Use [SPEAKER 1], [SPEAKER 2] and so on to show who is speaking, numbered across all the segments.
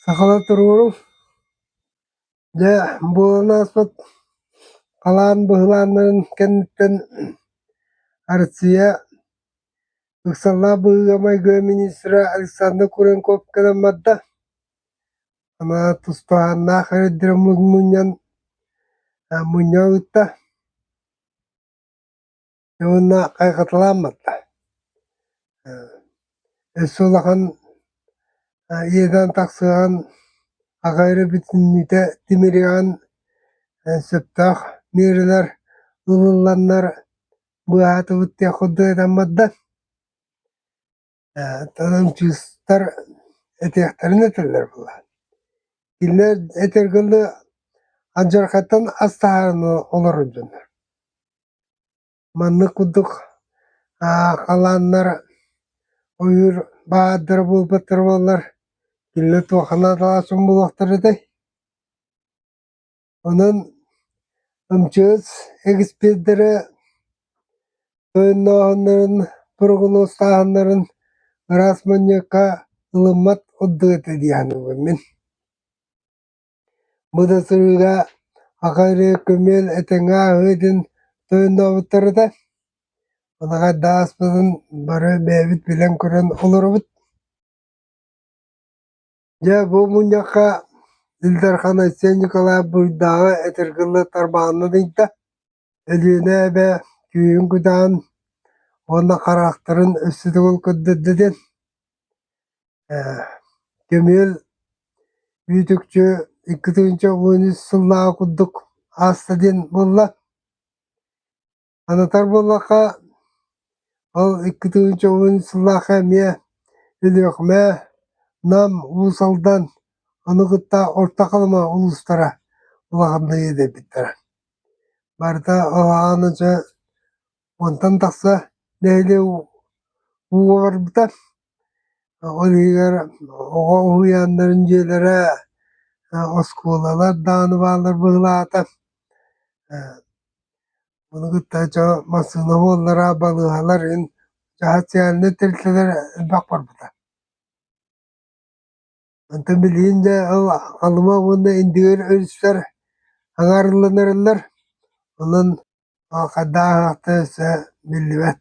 [SPEAKER 1] Сахалар туруору дьэ буола ааспыт халаан быһылааннарын кэнниттэн Арсия ыксаллаах быһыыга-майгыга министра Александр Куренков кэлэн барда. Анаа тустааһыннаах эрдэрэ мунньан, мунньан ыытта уонна хайҕаталаан барда. Өссө улахан иэдээн тахсыаҕын аҕа эрэ бүтүннүүтэ тимириҕэн сөптөөх миэрэлэр ылылланнар быыһаатыбыт диэх курдук этэн барда. Танантыыстар этиэхтэрин этэллэр буоллаҕа. Кинилэр этэр гынны алдьархайтан ас таһаарыны олорор дьоннор. Маннык курдук халааннар ойуур баадара буолбаттар буоллар кинилэр туохха наадалаах дьон буолуохтара этэй? Онон МЧС экспердэрэ ойоннооһуннарын, прогнозтааһыннарын ыраас манньыакка ылыммат ордук этэ дии саныыбын мин. Бу да сырыыга аха эрэ көмүөл этэҥҥэ ааһыы диэн тойоннообуттарыта. Манахайда ааспытын бары бэйэбит билэн көрөн олоробут. Дьэ, бу мунньахха Ил Дархан Айсен Николаев буруйдааҕы этэргэлэ тарбаанын ыйда, Өлүөнэ эбэ күүһүн кутаан уонна хараахтарын өссө төгүл көрдөрдө диэн көмүөл Бүөтүкчү икки тыһыынча уон үс сыллааҕы курдук ааста диэн буолла. Санатар буоллахха, ол икки тыһыынчаҕын сыллаахха эмиэ Өлүөхүмэ, Нам, Уус Алдан, ону кытта Орто Халыма улуустара улаханныыр эбиттэрэ. Барыта ылаана дьэ, уонтан тахса нэһилиэк ууга барбыта. Ол иһигэр оҕо уһуйааннарын дьиэлэрэ, оскуолалар даҕаны бааллар быһылаата. Ону кытта чэ массыына буоллара, балыыһалар иһин дьаһаат социальнай тэрилтэлэр элбэх барбыта. Онтон билигин дьэ ол Алыма уонна Индигир өрүстэр аҥаарылланарыллар. Онон хайдах аһатта өссө биллибэт.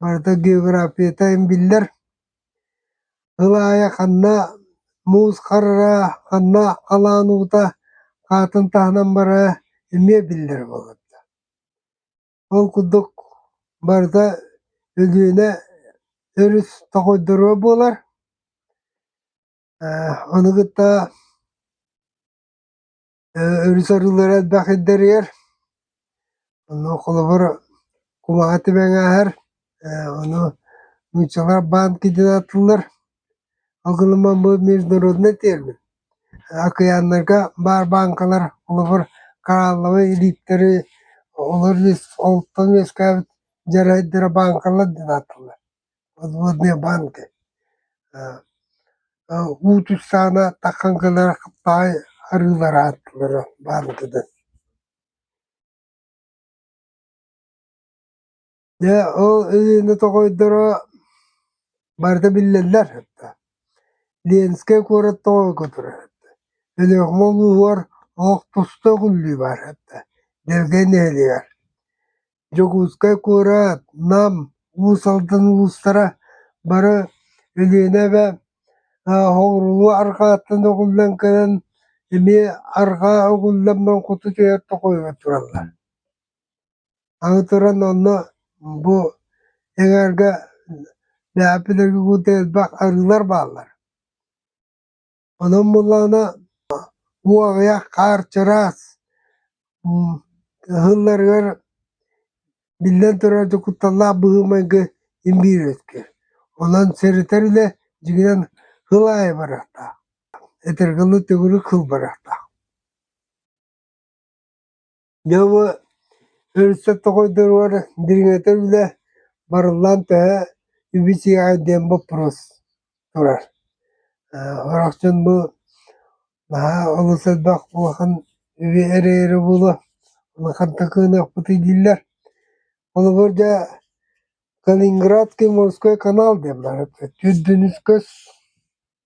[SPEAKER 1] барыта географията биллэр. Ыл аайы ханна муус харара, ханна халаан уута хаатын таһынан бара эмиэ биллэр буолабыта. Ол курдук барыта Өлүөнэ өрүс тоҕойдоро буолар. Э, ону кытта Э, өрүс арыылара элбэх ирдэрийэр. Ону холобур кулаҕа түбэҥ ааһар, э, ону нууччалар банки диэн аатыллар. Алгылымман бу международнай термин. Акыйааннарга баар бааҥкалар холобур коралловы илииттэри олор үөс, олтон үөскээбит дьарайдара бааҥкалар диэн аатыллар. подводные банки уут устаана тахсан кэлэр баай арыылары ааттылара баантыгын дьэ ол ырыаны тоҕойдоро барыта биллэллэр ленскэй куорат тоҕойго турар өлөөхүмэ улууһугар олох туста өкүллүү баар дэлгэй нэһилиэгэр Дьокуускай куорат, Нам, Уус Алдан улуустара бары Өлүөнэ эбэ Хоҥурулуу арҕааттан оҕуллан кэлэн эмиэ арҕаа оҕулламман куту түһэр тоҕойугар тураллар. Аны туран онно бу эҥээргэ Ляпи Дагегутэ элбэх арыылар бааллар. Онон буоллаҕына уу аҕыйах, хаар чараас, ыһылларыгар биллэн турар дьокуталлаах быһыы-майгы имбиирирэтгэ. Онон сэрэтэр үлэ дьиҥинэн хыл аайы барыахтаах, этэргэ дылы төгүрүк хыл барыахтаах. Дьоҕу өрүссэ тоҕо доруор дириҥэтэр үлэ барыллаан төһө үбү-сиэҕэй диэн боппуруос турар. Харахчын бу наһаа олус элбэх улахан үбү эрэйэри буолуо, улахан такыынакпытый дииллэр. Холобур, дьэ, Калининградский морской канал диэн бары, Түрдүнүс көс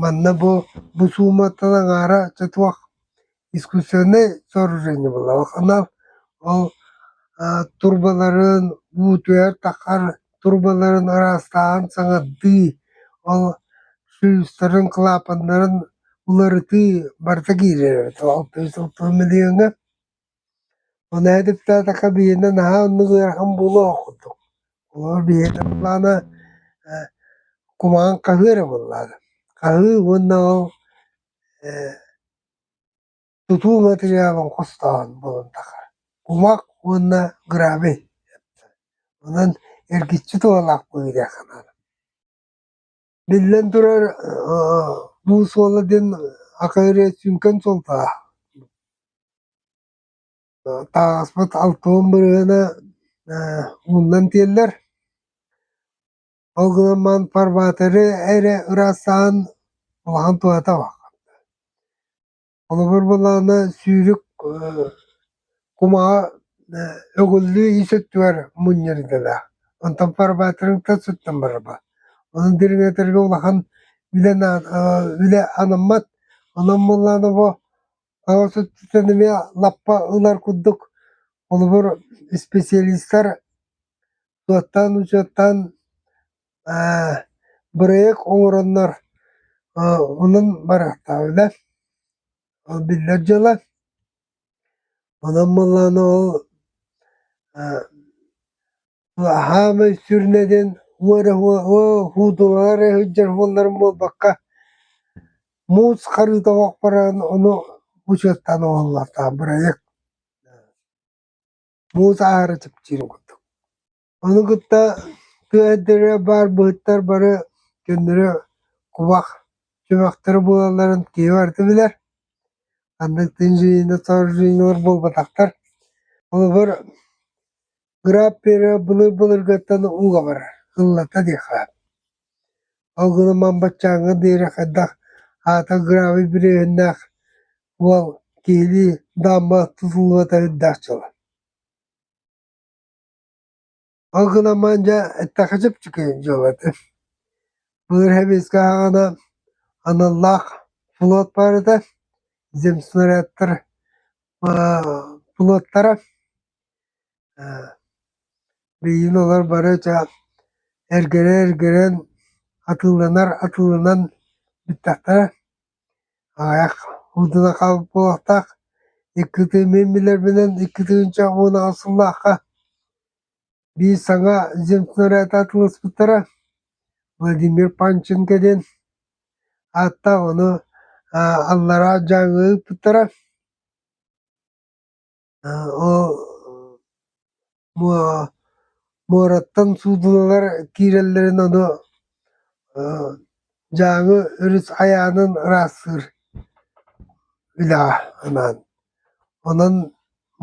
[SPEAKER 1] Манна бу бу сууматтан аҥаара чэ туох искусственнай сооружение буолла алханал ол турбаларын уу түһэр-таххар турбаларын араастааһын саҥардыы ол шлюздарын клапаннарын уларытыы барыта киирэр эбит ол миллиоҥҥа Ол ээдиттаатаха биһиэнэ наһаа оннук ыарахан буолуох курдук. Оо биһиэнэ былаана э кумаҕын хаһыы эрэ буоллаҕа. Хаһыы уонна ол э тутуу матырыйаалын хостооһун буолан тахара. Кумах уонна гравий. Онон эргиччи туһалаах быһыы диэн санаатым. Биллэн турар, бу суола диэн ака эрэ сүҥкэн суолтаах. таҥаспыт алтыһын бырыһына муннан тиэллэр. Ол гынан баран Парбаатары эрэ ыраастаан улахан туһата баар. Холобур буоллаҕына сүүрүк кумаҕа өгүллүү ис өттүгэр мунньар идэлээх. Онтон порыбаатырыҥтан сыттан бараба. Онон дириҥэтэргэ улахан үлэн үлэ анаммат. Онон буоллаҕына бу аҕыс өттүттэн эмиэ лаппа ылар курдук холобур исписэлиистэр суоттаан-учуоттаан бырайыак оҥороннор онон барыахтаахпына ол биллэр дьыала онон буоллаҕына ол хаамай сүрүнэдэн уу эрэ уутулар эрэ сылдьар буолларым буолбакка муус харыыта оһох баран ону учуоттаан оҥоһуллуохтаах бырайыак муус аһара чэпчиир курдук Ону кытта тыа өттүгэр баар быһыттар бары көннөрү кубах чөмөхтөрө буолалларын киһи барыта билэр. Ханнык да инженернар инженерлар буолбатахтар. Холобур, граппера былыр былыргыттан ууга барар, ыллата диэххэ. Ол гынан ман баччааҥҥа диэри хайдах аата гравий бүрүөһүннээх уол киһилии даамба тутуллубата үрдээх дьыала Ол гынан дьэ эттэххэ чэпчэки дьыала этэ. Былыр Сэбиэскэй ааҕана аналлаах флот баар этэ, земснарядтар флоттара. Билигин олор бары ча эргэрэ эргэрэн атыыланар атыыланан бүттэхтэрэ. Аҕыйах уутуна хаалбыт буолуохтаах, иккитин мин билэрбинэн иккитин үчүгэй муонаҕа сыллаахха биир саҥа земснаряд атылыспыттара, Владимир Панченко диэн ааттаах ону аллараа Дьааҥы ыыппыттара. Ол муораттан суудуналар киирэллэрин ону Дьааҥы өрүс айаанын ыраастыыр үлэҕэ анаан. Онон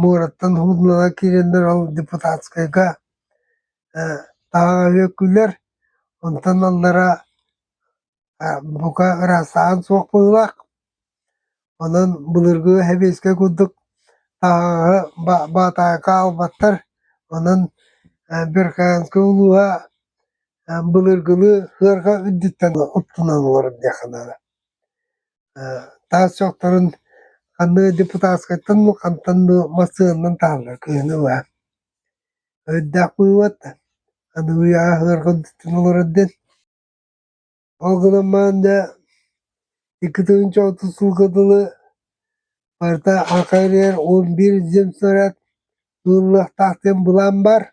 [SPEAKER 1] муораттан суудуналар киирэллэр ол депутатскайга таҕаҕа үөккүлэр, онтон аллара бука ырасаан суох быһыылаах. Онон былыргы сэбиэскэй курдук таһаҕаһы баатаҕы хаалбаттар. Онон Американскай улууһа былыргыны сыарҕа үрдүттэн оттунан олорор диэххэ наада. Таас чохторун ханна депутатскайтан ду хантан ду массыынанан таһаллар кыыһына баа. Өйдөөх быыбат аныгы үйэҕэ сыарҕа үрдүттэн олорор диэн Ол гынан баран да икки тыһыынча отут сылга дылы барыта саха үрдүгэр он биир земснаряд ылыллыахтаах диэн былаан бар.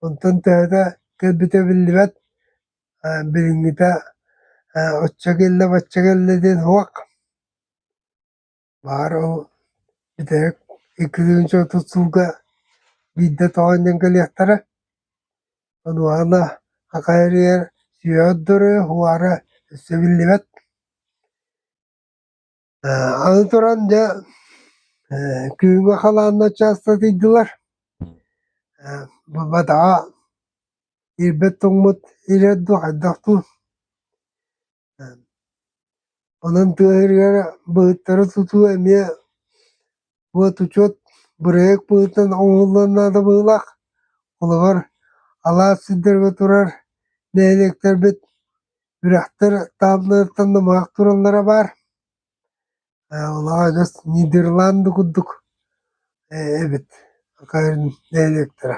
[SPEAKER 1] Онтон төһөтө кэлбитэ биллибэт, билиҥҥитэ оччо кэллэ, бачча кэллэ диэн суох. Баара ол бүтэһик икки тыһыынча отут сылга биирдэ тоҕо анньан кэлиэхтэрэ. Онуоха аха эрийэр сүөһү отдору уара өссө биллибэт. Аны туран дьэ күһүҥҥү халаанна учаастагыйдылар. Буолбатаҕа ирбэт тоҥмут ириэр дуо хайдах дуу Онон тыа сиригэр быһыттары тутуу эмиэ буотучуот бырайыак быһыытынан оҥоһуллуон наада быһыылаах. Холобур, алаас сирдэргэ турар нэһилиэктэрбит үрэхтэр таабыларыттан намыһах тураллара баар. Лагас Нидерланды курдук эбит диалектара.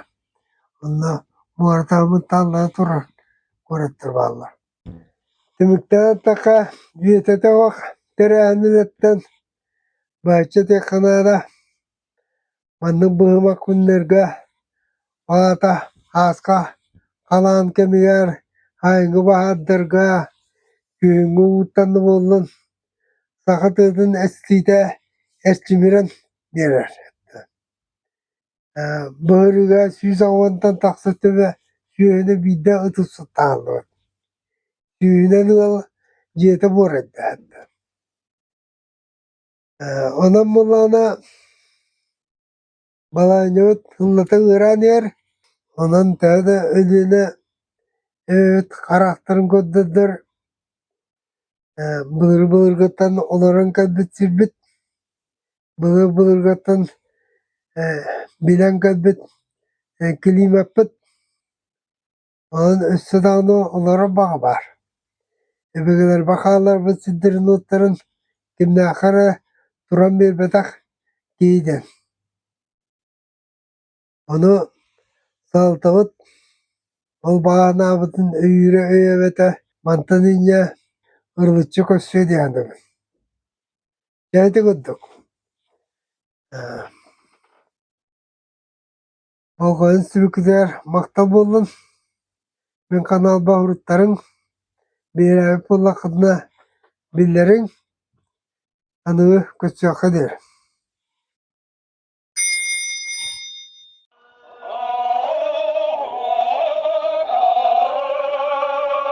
[SPEAKER 1] Онно муоратаабыт тааллара турар куораттар бааллар. Түмүктээн эттэххэ, Бүөтэ Тэбэх төрөөһүнүнэн бачча диэххэ наада. Маннык быһыма күннэргэ, ол аата сааска халаан кэмигэр, айылгы баһаардарга күһүҥҥү ууттан да буоллун, саха тыатын эстиитэ эрчимирэн биэрэр. Былырыыга сүүс аҕыһыттан тахса төбө сүөһүнү биирдэ ытыс ытааллыбыт. Сүүһүнэн ыал дьиэтэ буолар эрдэһиттэ. Онон буоллаҕына балаанньабыт ыллата ыараан иһэр, онон төһө да Өлүөнэ эбэбит харахтарын көрдөрдөр былыргы былыргыттан олорон кэлбит сирбит, былыргы былыргыттан билэн кэлбит климаппыт Онон өссө даҕаны олорор баҕа баар. Өбүгэлэр бакааларбыт сиддернуттарын кимнээхэ эрэ туран биэрбэтэх дии диэн. Ону салалтабыт ол баҕанаабытын өйүүрэ өйөөбөтө мантан инньэ ырылыччы көрсүө дии саныыбын. Дьэ ити курдук. Э Болҕойон сүбүкүтэр, махтал буоллун. Мин ханаалбаһыттарыҥ бэйэлээбит буоллаххытына биллэриҥ аныгы көстүөххэ диир